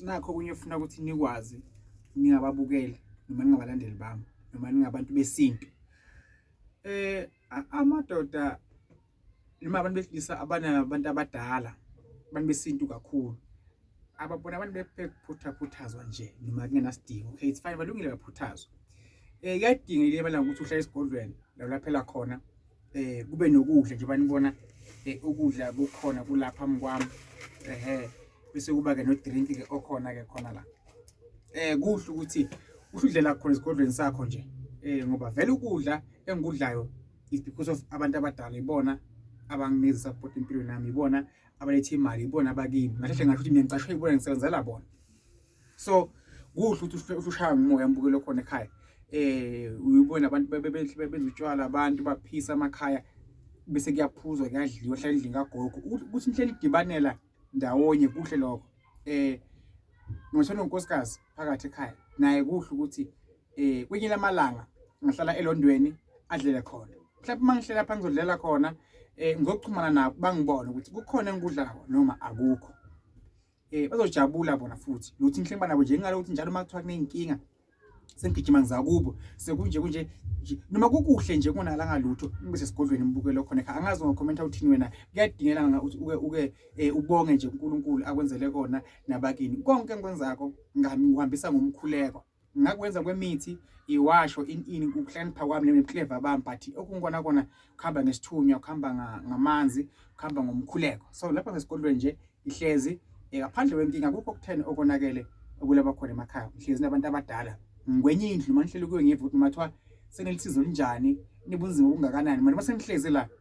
nakho okunye funa ukuthi nikwazi ningababukeli noma ningabalandeli bami noma ningabantu besintu eh amadoda noma abantu besilisa abanabantu abadala abantu besintu kakhulu ababona abantu bephuthaphuthazwa nje noma kungenasidingo okay it's fine balungile baphuthazwa um eh, kuyadingekile emalanga ukuthi uhlale esigodlweni la ulaphela khona eh kube nokudla nje banibona eh, ukudla kukhona kulapha mkwami ehe bese kuba ke no drink ke okhona ke khona la eh kuhle ukuthi uhludlela khona esigodlweni sakho nje eh ngoba vele ukudla engikudlayo is because of abantu abadala ibona abanginikeza support empilweni yami ibona abalethe imali ibona abakimi ngahle ngathi mina ngicashwe ibona ngisebenzela bona so kuhle ukuthi ushaya ngomoya mbukelo khona ekhaya eh uyibona abantu bebehle bebenza utshwala abantu baphisa amakhaya bese kuyaphuzwa kuyadliwa hlala endlini kagogo ukuthi inhlelo idibanela ndawonye kuhle lokho eh ngishona unkosikazi phakathi ekhaya naye kuhle ukuthi eh kwenye lamalanga ngihlala elondweni adlele khona mhlawumbe uma ngihlela phansi ngizodlela khona um ngokuxhumana nabo bangibone ukuthi kukhona engikudlayo noma akukho eh bazojabula bona futhi lokuthi ngihleli banabo nje ngalokuthi njalo uma kuthiwa kunenkinga sengigijima ngizakubo sekunje kunje noma kukuhle nje kunala ngalutho ngibe sesigodlweni ngibuke lokho nekha angazi ngokhomenta uthini wena kuyadingela nga uthi uke uke eh, ubonge nje uNkulunkulu akwenzele kona nabakini konke enkwenzako ngihambisa ngomkhuleko ngakwenza kwemithi iwasho in in ukuhlakanipha kwami nebuclever bami but okungikona kona kuhamba ngesithunywa kuhamba ngamanzi kuhamba ngomkhuleko so lapha ngesikolweni nje ihlezi eh, ngaphandle wenkinga kukho okutheni okonakele okulaba khona emakhaya ngihlezi nabantu abadala ngikwenye indlu uma ngihleli kuyo ngive ukuthi mathiwa senelisizo linjani nibunzima obungakanani manje uma sengihlezi la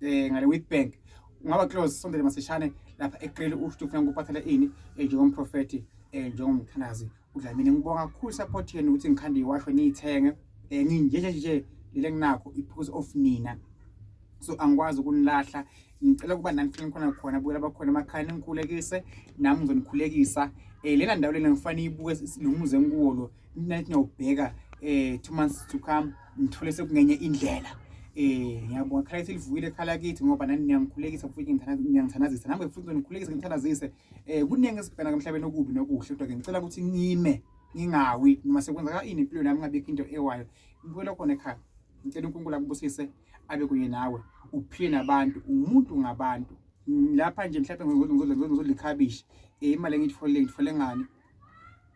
eh ngale Witbank ungaba close sondele masishane lapha eqele usho ufuna ukuphathela ini eh, njengomprofeti eh, njengomthandazi udlamini ngibonga kakhulu support yenu ukuthi ngikhande iwasho niyithenge eh, nginje nje nje lele nginakho iphuzu of nina so angikwazi ukunilahla ngicela ukuba nani futhi nikhona khona buyela bakhona emakhaya ningikhulekise nami ngizonikhulekisa um lena ndawo lena ngifane iyibuke lo muze ngikuwo lo mina lithi ngiyawubheka um two months to come ngithole sekungenye indlela um ngiyabonga khala kithi livukile khala kithi ngoba nani niyangikhulekisa futhi niyangithandazisa nami futhi ngizonikhulekisa ngithandazise um kuningi esibhena emhlabeni okubi nokuhle kodwa-ke ngicela ukuthi ngime ngingawi noma sekwenzeka ini empilweni yami ngabikho into ewayo ngibuyela khona ekhaya ngicela unkulunkulu akubusise abe kunye nawe uphile nabantu umuntu ngabantu lapha nje mhlawumbe ngizodla ikhabishi um imali engiyitholile ngithole ngani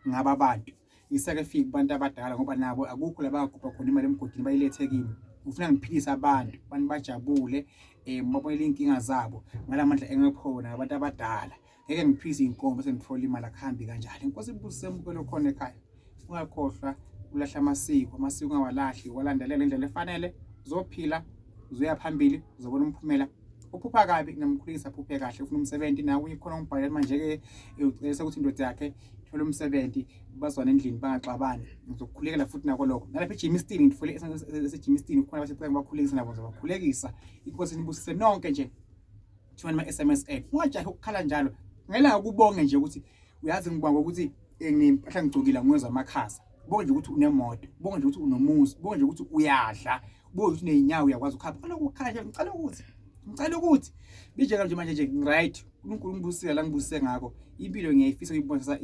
ngaba bantu isake fika kubantu abadala ngoba nabo akukho labagubha khona imali emgodini bayilethe kimi ngifuna ngiphilise abantu abantu bajabule um babonele iy'nkinga zabo ngala mandla engikhona abantu abadala ngeke ngiphilise iy'nkombo sengithola imali akuhambi kanjalo inkosi ibusise mukelo khona ekhaya ungakhohlwa ulahla amasiko amasiko ungawalahli walandelela indlela efanele uzophila uzoya phambili uzobona umphumela uphupha kabi ngamkhulisa aphuphe kahle ufuna umsebenzi nawe uyikhona umbhalela manje-ke ucebisa ukuthi indoda yakhe thole umsebenzi bazwane endlini bangaxabani ngizokukhulekela futhi nako lokho nalapha ejimistini ngithole esejimistini khona abasecela bakhulekisa nabo ngizobakhulekisa inkosi nibusise nonke nje thumela ama-s m s a ungajahi ukukhala njalo ngela ukubonge nje ukuthi uyazi ngibonga ukuthi eh, ngimpahla ngigcokile ngiwezwa amakhaza bonge nje ukuthi unemoto bonge nje ukuthi unomuzi bonge nje ukuthi uyadla kubo ukuthi nezinyawo uyakwazi ukuhamba ngicela ukukhanya ngicela ukuthi ngicela ukuthi bijeka nje manje nje right uNkulunkulu ngibusile la ngibusise ngakho impilo ngiyayifisa uyibonisa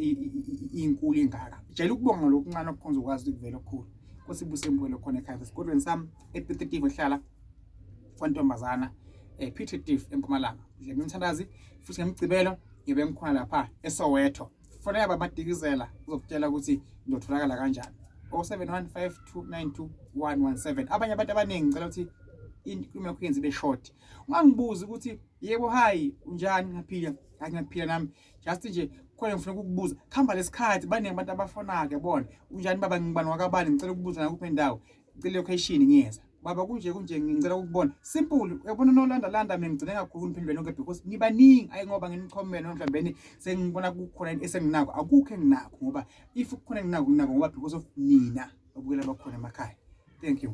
inkulu ingaka jela ukubonga lokuncane okukhonza ukwazi ukuvela okukhulu Nkosi ibuse impilo khona ekhaya esikolweni sami ePititifu ehlala kwantombazana eh Pititifu eMpumalanga. Nje ngimthandazi futhi ngemgcibelo ngibe ngikhona lapha eSoweto. fonela babadikizela uzokutshela ukuthi ngiyotholakala kanjani 0715292117 abanye abantu abaningi ngicela ukuthi inkulumo yakho yenze ibe short ungangibuzi ukuthi yebo hayi unjani ngiyaphila hayi ngiyaphila nami just nje khona ngifuna ukukubuza khamba lesikhathi baningi abantu abafonayo yabona unjani baba ngibani wakabani ngicela ukubuza nakuphi indawo ngicela location ngiyeza baba kunje kunje ngicela ukubona simple uyabona nolanda landa mina ngigcine kakhulu ngiphinde nonke because nibaningi ayi ngoba nginikhomela mhlawumbe sengibona kukhona into esenginako akukho enginako ngoba if kukhona enginako nginako ngoba because of nina obukela bakhona emakhaya thank you